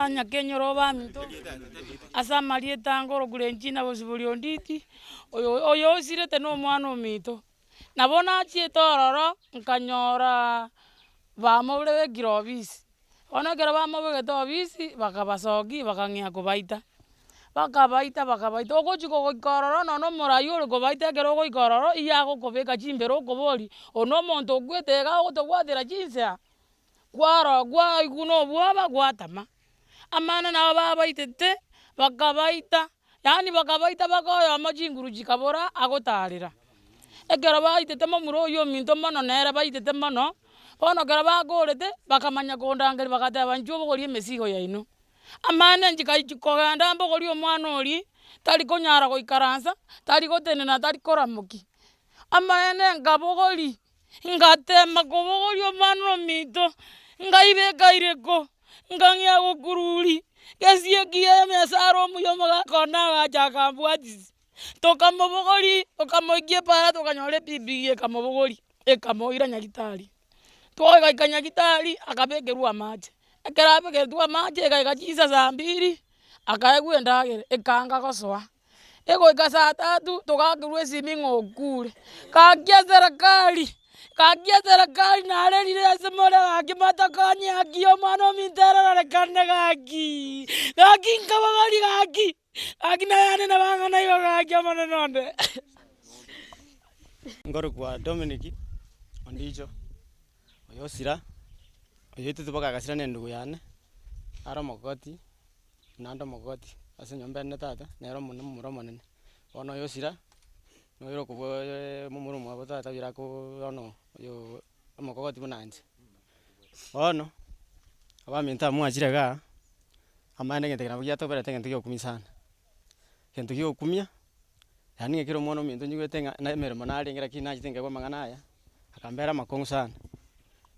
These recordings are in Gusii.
Nyakenyoro abaminto, ase amarieta ange ore Grenchina gose bori Onditi, oyo oyo osirete na omwana ominto. Nabo nachiete ororo, nkanyoraa bamobire bekire obisi, bono ekero bamobegete obisi, bakabasokia bakang'ea kobaita, bakabaita bakabaita ogochi goika ororo nonye na omorai ore kobaita ekero ogoika ororo, iye agokobeka chimbero okoboria, oyo na omonto okwete iga ogotobwatera chinsa. Kwaroo kwaigwa na obwoba gwatama, amang'ana nabo babaitete, bakabaita, yaani bakabaita mpaka oyomo chinguru chikabora agotarera. Ekero baitete momura oyio ominto mono nere baitete mono, bono ekero bakorete, bakamanya kondangeria bagateba inche obogori emesigo yaino. Amang'ana nchikaichia kogenda mbogori omwana oria, tari konyara goikaransa, tari gotenena tari koramoki. Amaene nkabogoria, Ngatema kobogoria omwana omoito, ngaibeka iriko, ngang'ea gokururi, gesiyo ekiya emesara omuya omogaka one agacha akambwatisi, tokamobogori, tokamoikia epaara tokanyora ebibigia ekamobogori, ekamoira nyagetari. Twagoika nyagetari, akabekerwa amache, ekero abegetwe amache, egaika chinsa saa mbiri, akaegwa endagera, ekanga gosoa. egoika saa tatu togakerwa esimi ng'a okure, gaki eserekari, gaki eserekari narerire ase more gaki matokonye gaki omwana ominto ararorekane gakiiii, gaki nkabogari gaki, gaki naye anene bang'ana iga gaki omonene onde. Nkorokwa Dominic Ondicho, oyo osira, oyoitete boka agasira na endugu yane, naro omogokoti. naende omogogoti ase enyomba ende tata, nere omone omomura omonene. Bono oyo osira, noyoira okobwaaaa momura omwabo tata oyore akoooo bono oyoo omogogoti buna inche. Bono, abaminto aba mwachire igaa, amaene egento eke nabo giatoberete egento kia okumi sana, egento kia okumia, yaani ng'a kera omwana ominto nyigwete ng'a na emeremo narenge lakini nachete nkaigwa amang'ana aya, akambera amakong'u sana,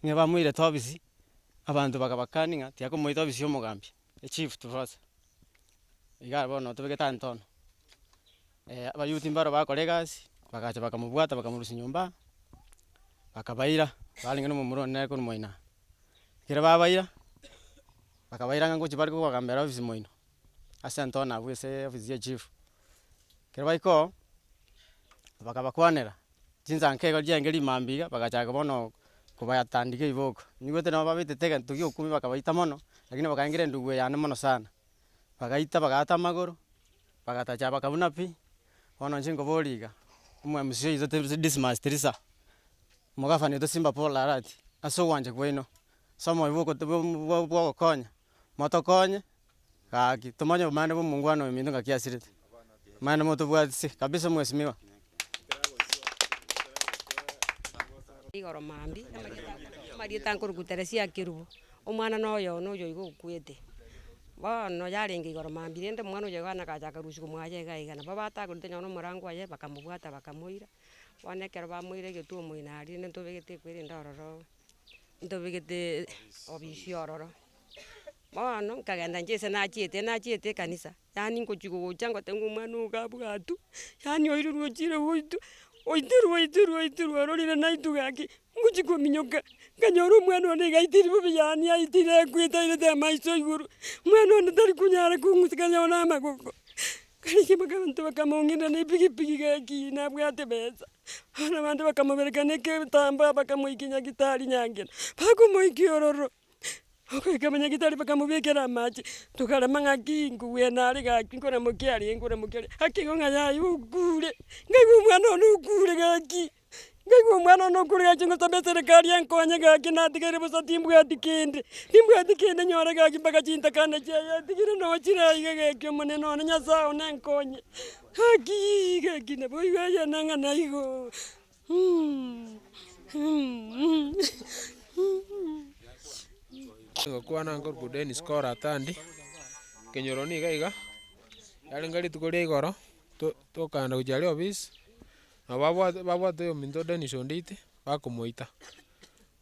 ng'a bamoirete obisi, Abanto bakabakani ng'a tiakomoita ofisi y'omogambia, echief to first, igare bono otobe getanto ono, abayouth mbaro bakora egasi, bagacha bakamobwata bakamorusia nyomba, bakabaira, barenge na omomura one nere korwa moino aa. Ekero babaira, bakabaira ng'a ngochi bare kogogambera ofisi moino, ase anto one abwo ase ofisi ya echief. Ekero baika oo, bakabakwanera. Chinsanka igoro chi'engeri imambia iga, bagachaka bono kobatandiga riboko. Naigwete nabo babetete egento gi'okubi bakabaita mono, lakini bakaengera endubu eye ande mono sana. Bagaita bagaata amagoro, bagatacha bakabuna pi, bono inche nkoboria iga, omwamisi oito tiri Dismas Tirisa, omogafani oito Simba Paul Arati, ase ogwancha kwaino, ase omoyo bw'ogokonya. motokonye gaki tomanye obomani bwa omongwana oyo minto ngaki asirete, mani motobwatisie kabisa mwesimiwa. Igoro mambia amarieta nkoruku Teresia Kerubo, omwana na oyo one oyoigo okwete, bono yarenge igoro mambia rende omwana oyoigo agacha akarusia omoyo iga iga nabo batagorete nonye na omorango oye bakamobwata bakamoira, bono ekero bamoire egetuo omoino aria rende ntobegete ekwerende ororo. ntobegete obisi ororo, bono nkagenda inche ase nachiete nachiete ekanisa, yaani ngochi gogocha ngote ng'a omwana ogo gabwatwa, yaani oirwe ochire goitwa, oiterwa oiterwa oiterwa ororire naitwe gaki, ngochi kominyoka, nkanyora omwana one iga aitire bobe yaani aitire akwete airete amaiso igoro, mwana one tari konyara kong'usika nyawo na amagoko. Gaki bakamotebia bakamong'ina nepigipigi gaki nabwate besa. Bono abande bakamobereka negetambaa bakamoikia nyagitari nyangena, bakomoikia ororo, ogoika abanyagitari bakamobekera amache, tokarema ng'aki nkogwena are gaki nkoramokia are nkoramokia are, gaki igo ng'a yaye okure, ngaigwa omwana one okure gaki. Naigwe omwana one okorire ache gosaba eserekari enkonye gaki natigaire bosa timbwati kende. Timbwati kende nyore gaki mpaka chintakane chiaye etigire noo chire aiga gaki omonene one nyasaye one enkonye gakii gaki nabo igo egenene ng'a naigoo Ngokwana nkorokwa Dennis Kora Atandi, nkenyoro niga iga, yarenge rituko ria igoro to- tokaanda gochia aria ofisi, Nabo babwate babwate oyominto Dennis Onditi, bakomoita,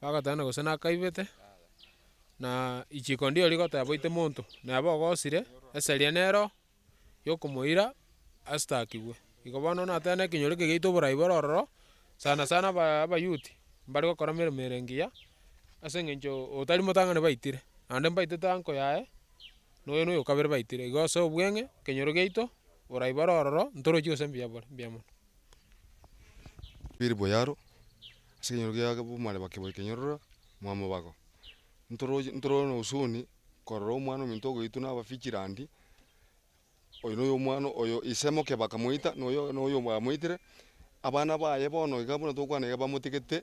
bagoteba gose nakaibete, na richiko ndiro rigoteba boite monto, na eba ogosire, eseria nero yokomoira astakigwe. Igo bono nateba nekenyoro eke giaito oborai bore ororo, sana sana aba abayuti, mbare gokora emeremo ere engiya, ase eng'encho otari motang'ani baitire, naende mbaitete anko yaye. noyo noyo kabere baitire igo ase obweng'e ekenyoro giaito oraibare ororo ntorochi gose mbuya bore mbuya mono. Biri buya aro ase ekenyoro gia abamware bakebori kenyororo mwamobago ntoroche ntoro na husuni korora omwana ominto ogoitwa na abafichirandi oyo noyo omwana oyo ise moke bakamoita noyo noyo bamoitire abana baye bono iga buna tokwana iga bamotigete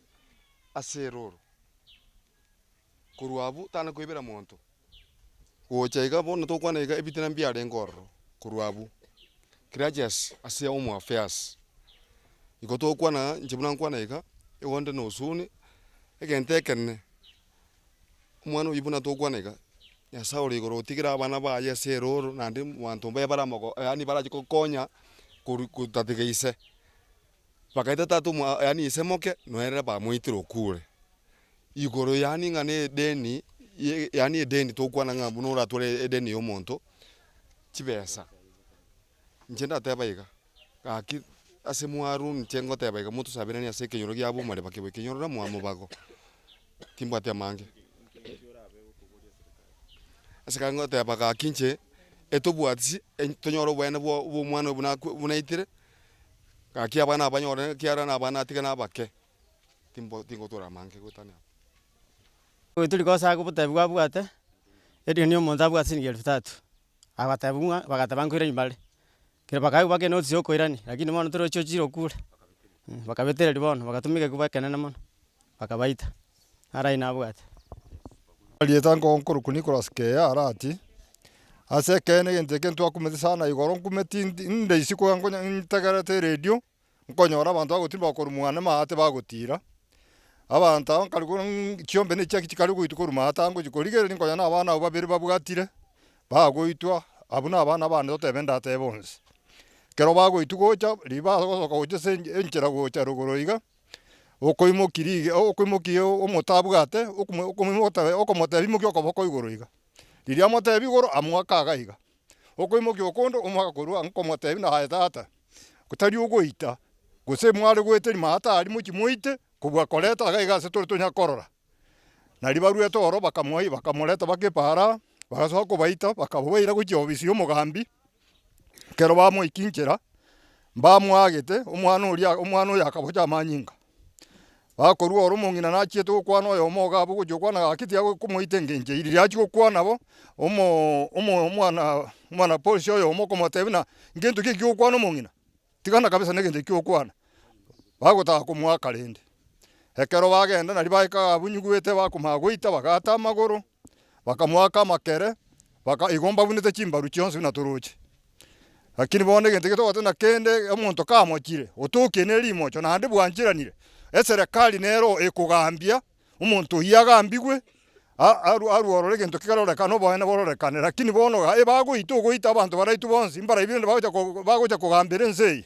ase erooro. Korwa abwo tana koibera monto. Gocha iga bono tokwana iga ebitina mbiarenge ororo korwa abwo. Claudius ase home affairs. Igo tokwana inche buna nkwana iga igo nde nosoni egento ekenene. Omwana oyi buna tokwana iga Nyasaye ore igoro otigire abana baye ase eroro naende abanto mbaye bare amago yaani barache kokonya koru kotatiga ise. Bagaeta tata omo yaani ise moke noerera bamoitire okwo ore. igoro yaani ng'a nedeni yaani edeni togokwana ng'a buna oratware edeni ya omonto chibesa inche ndateba iga gaki ase mwaru inche ngoteba iga motosaberanie ase ekenyoro giabo omareba kiabo ekenyorore moa mobago timbwati amange ase ekero ngoteba gaki inche etobwati tonyore oboene bwa omwana oyo buna aitire gaki abana abanyore ekiagera abana natiga nabake. timbo tingotoora amange goetania aba. Oyo tori kosaga obotebi bwabwate, erioni omonto abwate siringi elfu tatu, agateba buna bagateba nkoiranie bare, kere bakae baka enotisi ya okoirani lakini bono torochi ochire okure, bakabetereri bono bagatuma egeguba ekenene mono, bakabaita, naro aywo nabwate. Erieta nko nkorokwa Nicholas Kea arati, ase ekeene egento eke ntwakumete sana igoro nkumeti inde isiko onye ntegerete eredio. nkonyora abanto bagotirimba bakorwa mwane amaate bagotiira, abanto aba nkare kore ng'u chiombe ne chiaki chikare goitwa korwa maate aya ngochia korigereria nkonya na abana abwo babere babwatire, bagoitwa, abwo na abana abane totebe ndatebe bonsi. Ekero bagoitwa gocha, riba ase ogosoka gochia ase ench- enchera gocha rogoro iga, okoimoki rige okoimoki omote abwate, okomo okomoimoki otabe okomotebi imokia okoboko igoro iga. Riria amotebia igoro, amwaka iga iga. Okoimokia okonto omo agakorwa ang'o komotebia naye, Aye tata, tari ogoita, gose mware goeta rimo aa tari mochie moite, kobua koreta agaa iga ase tore tonyare korora. Nario baruete ororo bakamoa bakamoreta bakepaara aa, bagasoka kobaita bakabaira gochia obisi y'omogambi, ekero bamoikinchera, mbamoagete omwana oria, omwana oyo akabocha amanyinga. Bakorua ore omong'ina nachiete gokwana oyomo iga abwo ogochia gokwana iga gaki tiga komoita engencho eye. Riria achia gokwana bo, omo omo omwana omwana polisi oyomo okomotebia buna, ngento ki eki gokwana omong'ina? Tigana kabisa na egento eki gokwana. Bagotaka komoaka rende. Ekero bagenda nari baika iga abwo nyigwete bakomanya goita bagata amagoro, bakamoaka amakere, baka igo mbabunete chimbaru chionsi buna toroche. Lakini bono egento ekio togotebiwa ng'a kende omonto kamochire, otokie ne rimocho naende bwancheranire, eserekari nero ekogambia omonto oyio agambigwe, a- aru- aruorore egento kerorekane oboene bororekane. Lakini bono iga ebagoita ogoita abanto baraitwe bonsi, mbarabi rende bagocha ko- bagocha kogambera ense eye.